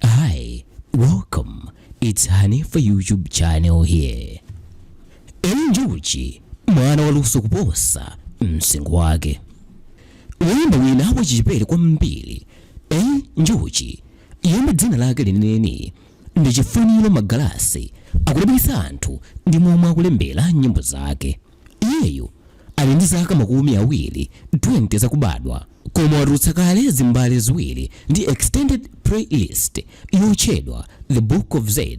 Hi, welcome. It's Honey for YouTube channel here. Eli Njuchi, mwana waluso kuposa msinkhu wake. Woyimba wina wachichepere kwambiri, Eli Njuchi, yemwe dzina lake lenileni ndi Chifuniro Magalasi akudabwitsa anthu ndi momwe akulembera nyimbo zake. Iyeyo ali ndi zaka makumi awiri 20 zakubadwa koma watulutsa kale zimbale ziwiri ndi extended playlist yotchedwa The Book of Z.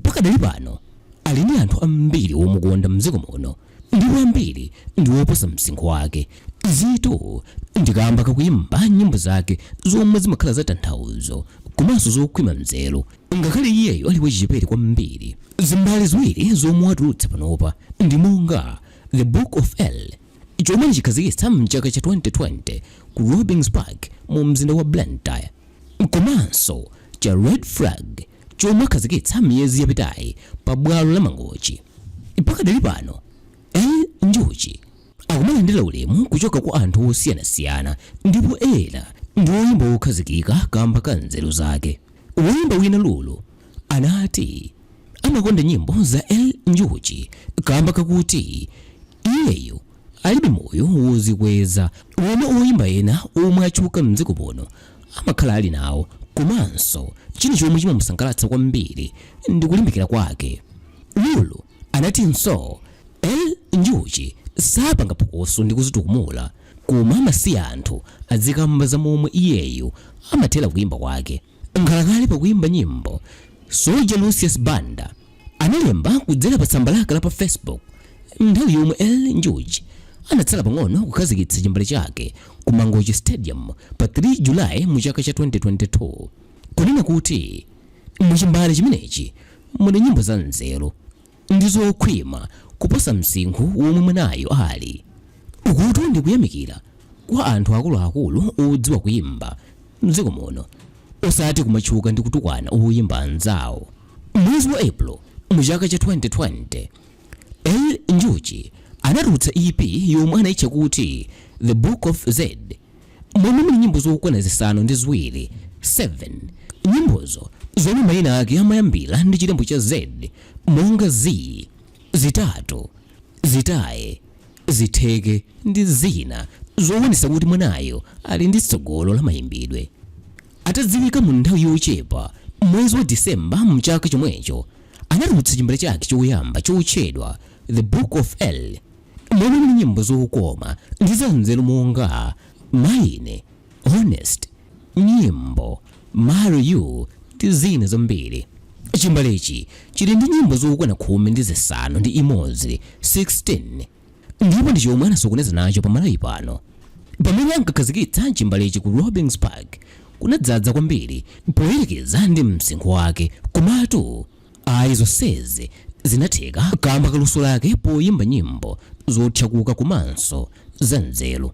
Pakadali pano ali ndi anthu ambiri omukonda mdziko muno ndipo ambiri ndi oposa msinkhu wake. Izitu ndi kaamba kakuyimba nyimbo zake zomwe zimakhala za tanthauzo komanso zokhwima mzeru. Ngakhale iyeyo ali wachichepere kwambiri, zimbale ziwiri zomwe watulutsa panopa ndi monga The Book of Eli, chomwe anachikhazikitsa m'chaka cha 2020 ku Robin's Park mu mzinda wa Blantyre, komanso cha Red Flag chomwe akhazikitsa miyezi yapitayi pa bwalo la Mangochi. Pakadali pano, Eli Njuchi akumalandira ulemu kuchoka kwa anthu osiyanasiyana ndipo ena ndi oyimba wokhazikika kamba ka nzeru zake. Woimba wina Lulu anati amakonda nyimbo za Eli Njuchi kaamba kakuti iyeyo alibe moyo wozikweza womwe oimba ena omwe atchuka m'dziko muno amakhala ali nawo komanso china chomwe chimamusangalatsa kwambiri ndi kulimbikira kwake. Lulu anatinso Eli Njuchi sapanga phokoso ndi kuzitukumula. koma amasiya anthu adzikamba za momwe iyeyo amathera kuimba kwake. Nkhalakale pa kuimba nyimbo, Soldier Lucius Banda analemba kudzera pa tsamba lake la pa Facebook nthawi yomwe Eli Njuchi anatsala pang'ono kukhazikitsa chimbale chake ku Mangochi Stadium pa 3 July mu chaka cha 2022, kunena kuti mu chimbale chimenechi muli nyimbo za nzeru. ndi zokhwima kuposa msinkhu womwe mwanayo ali. Ukutu ndi kuyamikira kwa anthu akuluakulu odziwa kuimba m'dziko muno osati kumatchuka ndi kutukwana oyimba anzawo. M'mwezi wa April mu chaka cha 2020, Eli Njuchi anatulutsa EP yomwe anaitcha kuti The Book of Z. momwe muli nyimbo zokwana zisanu ndi ziwiri 7 nyimbozo zomwe maina ake amayambira ndi chilembo cha Z monga Z, zitatu, zitaye, zitheke ndi zina zowonesa kuti mwanayo ali ndi tsogolo la mayimbidwe. Atadziwika mu nthawi yochepa, mwezi wa December mchaka chomwecho anatulutsa chimbale chake choyamba chotchedwa The Book of Eli. Mmene muli nyimbo zokoma ndi zanzeru monga Mine, Honest, Nyimbo, Marry You ndi zina zambiri. Chimbalechi chili ndi nyimbo zokwana khumi ndi zisanu ndi imodzi, 16, ndipo ndi chomwe anasokoneza nacho pa Malawi pano. Pamene ankakhazikitsa chimbalechi ku Robin's Park kunadzadza kwambiri poyerekeza ndi msinkhu wake. Komatu. Ayi, zonsezi zinatheka kaamba ka luso lake poyimba nyimbo zothyakuka komanso zanzeru.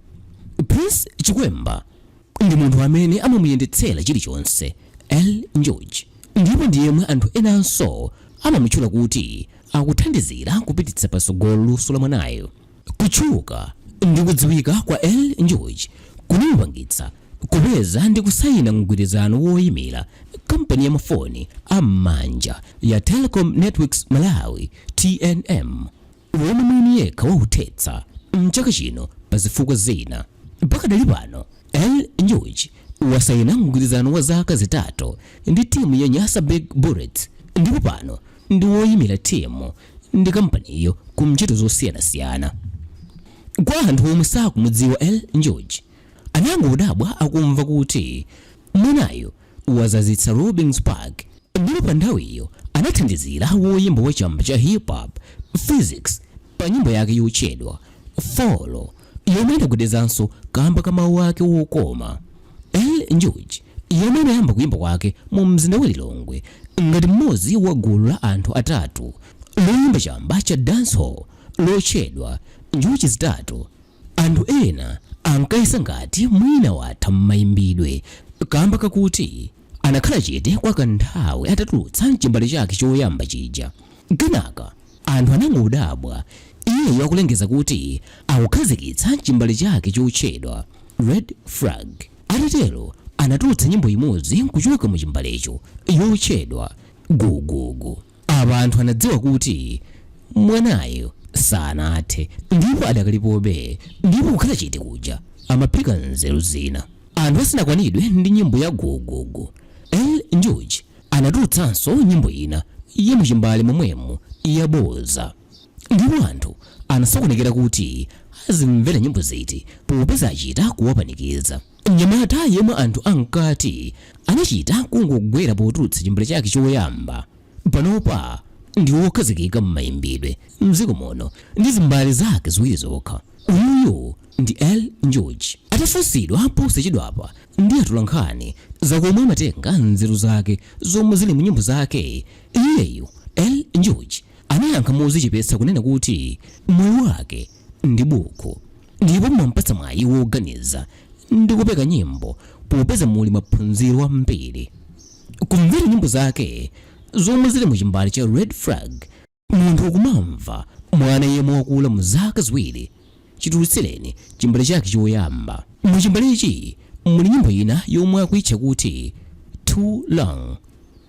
Prince Chikwemba ndi munthu amene amamuyendetsera chilichonse Eli Njuchi ndipo ndi yemwe anthu enanso amamutchula kuti akuthandizira kupititsa patsogolo luso la mwanayu. Kutchuka ndi kudziwika kwa Eli Njuchi kunamupangitsa kupeza ndi kusaina mgwirizano woimira kampani ya mafoni a m'manja ya Telekom Networks Malawi, tnm, womwe mwini yekha wauthetsa m'chaka chino pa zifukwa zina. Pakadali pano, Eli Njuchi wasaina mgwirizano wa zaka zitatu ndi timu ya Nyasa Big Bullets ndipo pano ndi woimira timu ndi kampaniyo ku ntchito zosiyanasiyana. Kwa anthu omwe sakumudziwa Eli Njuchi, anangodabwa akumva kuti mwanayo wadzadzitsa Robin's Park ndipo pa nthawiyo anathandizira woyimba wa chamba cha hip hop, Phyzix pa nyimbo yake yotchedwa Follow. yomwe inagwedezanso kamba ka mawu ake wokoma eli njuchi yemwe anayamba kuyimba kwake mu mzinda wa lilongwe ngati mmodzi wa gulu la anthu atatu loyimba chamba cha dancehall lotchedwa njuchi zitatu anthu ena ankayesa ngati mwina watha m'mayimbidwe kamba kakuti anakhala chete kwa kanthawi atatulutsa chimbale chake choyamba chija kenaka Anthu anangodabwa iyeyu akulengeza kuti akukhazikitsa chimbale chake chotchedwa Red Flag. Atatero anatulutsa nyimbo imodzi kuchoka mu chimbalecho yotchedwa Gugugu. Apa anthu anadziwa kuti mwanayu sanathe ndipo adakalipobe ndipo kukhala chete kuja amaphika nzeru zina. Anthu asanakwanidwe ndi nyimbo ya Gugugu, Eli Njuchi Anatulutsanso nyimbo ina ya mu chimbale momwemo yabodza, ndipo anthu anasokonekera kuti azimvera nyimbo ziti popeza achita kuwapanikiza. Mnyamata yemwe anthu ankati anachita kungogwera potulutsa chimbale chake choyamba, panopa ndi wokhazikika m'mayimbidwe m'dziko muno ndi zimbale zake ziwiri zokha. Uyuyu ndi Eli Njuchi. Atafunsidwa posachedwapa ndi atolankhani za komwe amatenga nzeru zake zomwe zili mu nyimbo zake, iyeyu, Eli Njuchi, anayankha modzichepetsa kunena kuti moyo wake ndi bukhu ndipo mwampatsa mwayi woganiza ndi kupeka nyimbo popeza muli maphunziro ambiri. Kumvera nyimbo zake zomwe zili mu chimbale cha Red Flag, Munthu ukumamva mwana yemwe wakula mu zaka ziwiri chitulutsireni chimbale chake choyamba. Mu chimbalechi muli nyimbo ina yomwe akuitcha kuti Too Long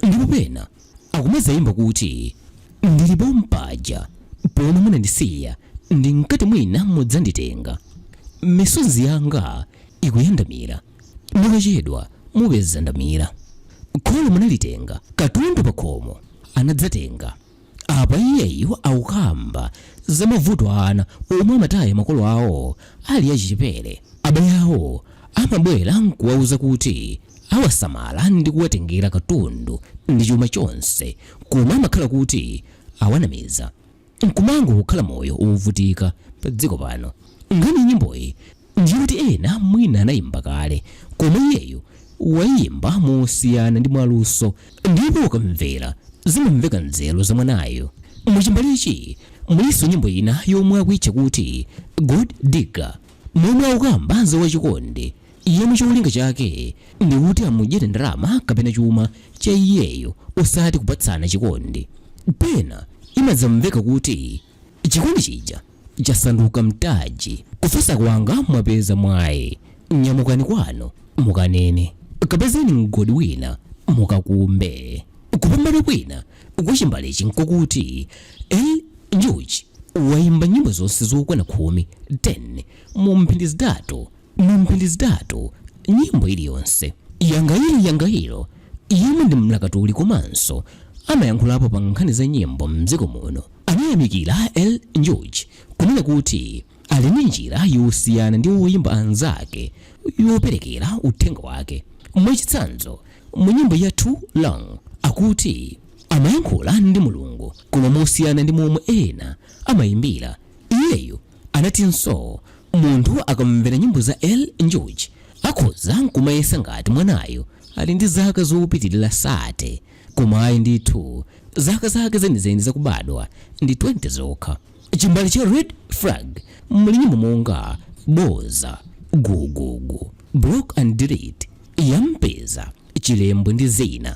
ndipo pena akumadzayimba kuti, Ndili pompaja pomwe munandisiya ndinkati mwina mudzanditenga. Misozi yanga ikuyandamira. Mukachedwa mupeza ndamira. Kholo munalitenga, katundu pakhomo anadzatenga. Apa iyeyo akukamba za mavuto a ana omwe amataya makolo awo ali achichepere. Abale awo amabwera n'kuwauza kuti awasamala ndi kuwatengera katundu ndi chuma chonse koma amakhala kuti awanamiza. n'kumango kukhala moyo wovutika padziko pano. Nkhani ya nyimboyi ndi yoti ena mwina anaimba kale, koma iyeyo waiimba mosiyana ndi mwaluso ndipo ukamvera zimamveka nzeru za mwanayo. Mu chimbalechi mulinso nyimbo ina yomwe akuitcha kuti Gold Digger momwe akukamba za wachikondi yemwe cholinga chake ndi kuti amudyere ndalama kapena chuma cha iyeyo osati kupatsana chikondi. Pena imadzamveka kuti chikondi chija chasanduka mtaji. Kufatsa kwanga mwapeza mwayi. Nyamukani kwanu mukanene. Kapezeni mgodi wina mukakumbe. Kupambana kwina kwa chimbalechi n'kokuti Eli Njuchi wayimba nyimbo zonse zokwana khumi 10 mu mphindi zitatu. Mu mphindi zitatu, nyimbo iliyonse, Yangairo Yangairo, yemwe ndi mlakatuli komanso amayankhulapo pa nkhani za nyimbo m'dziko muno, anayamikira Eli Njuchi, kunena kuti ali ndi njira yosiyana ndi oyimba anzake yoperekera uthenga wake. Mwachitsanzo, mu nyimbo ya Too Long, akuti amayankhula ndi Mulungu koma mosiyana ndi momwe ena amayimbira, iyeyo Anatinso munthu akamvera nyimbo za Eli Njuchi akhoza n'kumayesa ngati mwanayo ali ndi zaka zopitirira 30, koma ayi ndithu, zaka zake zenizeni zakubadwa ndi 20 zokha. Chimbale cha Red Flag muli nyimbo monga Boza, Gugugu, Block and Delete, Yampeza, Chilembo ndi zina.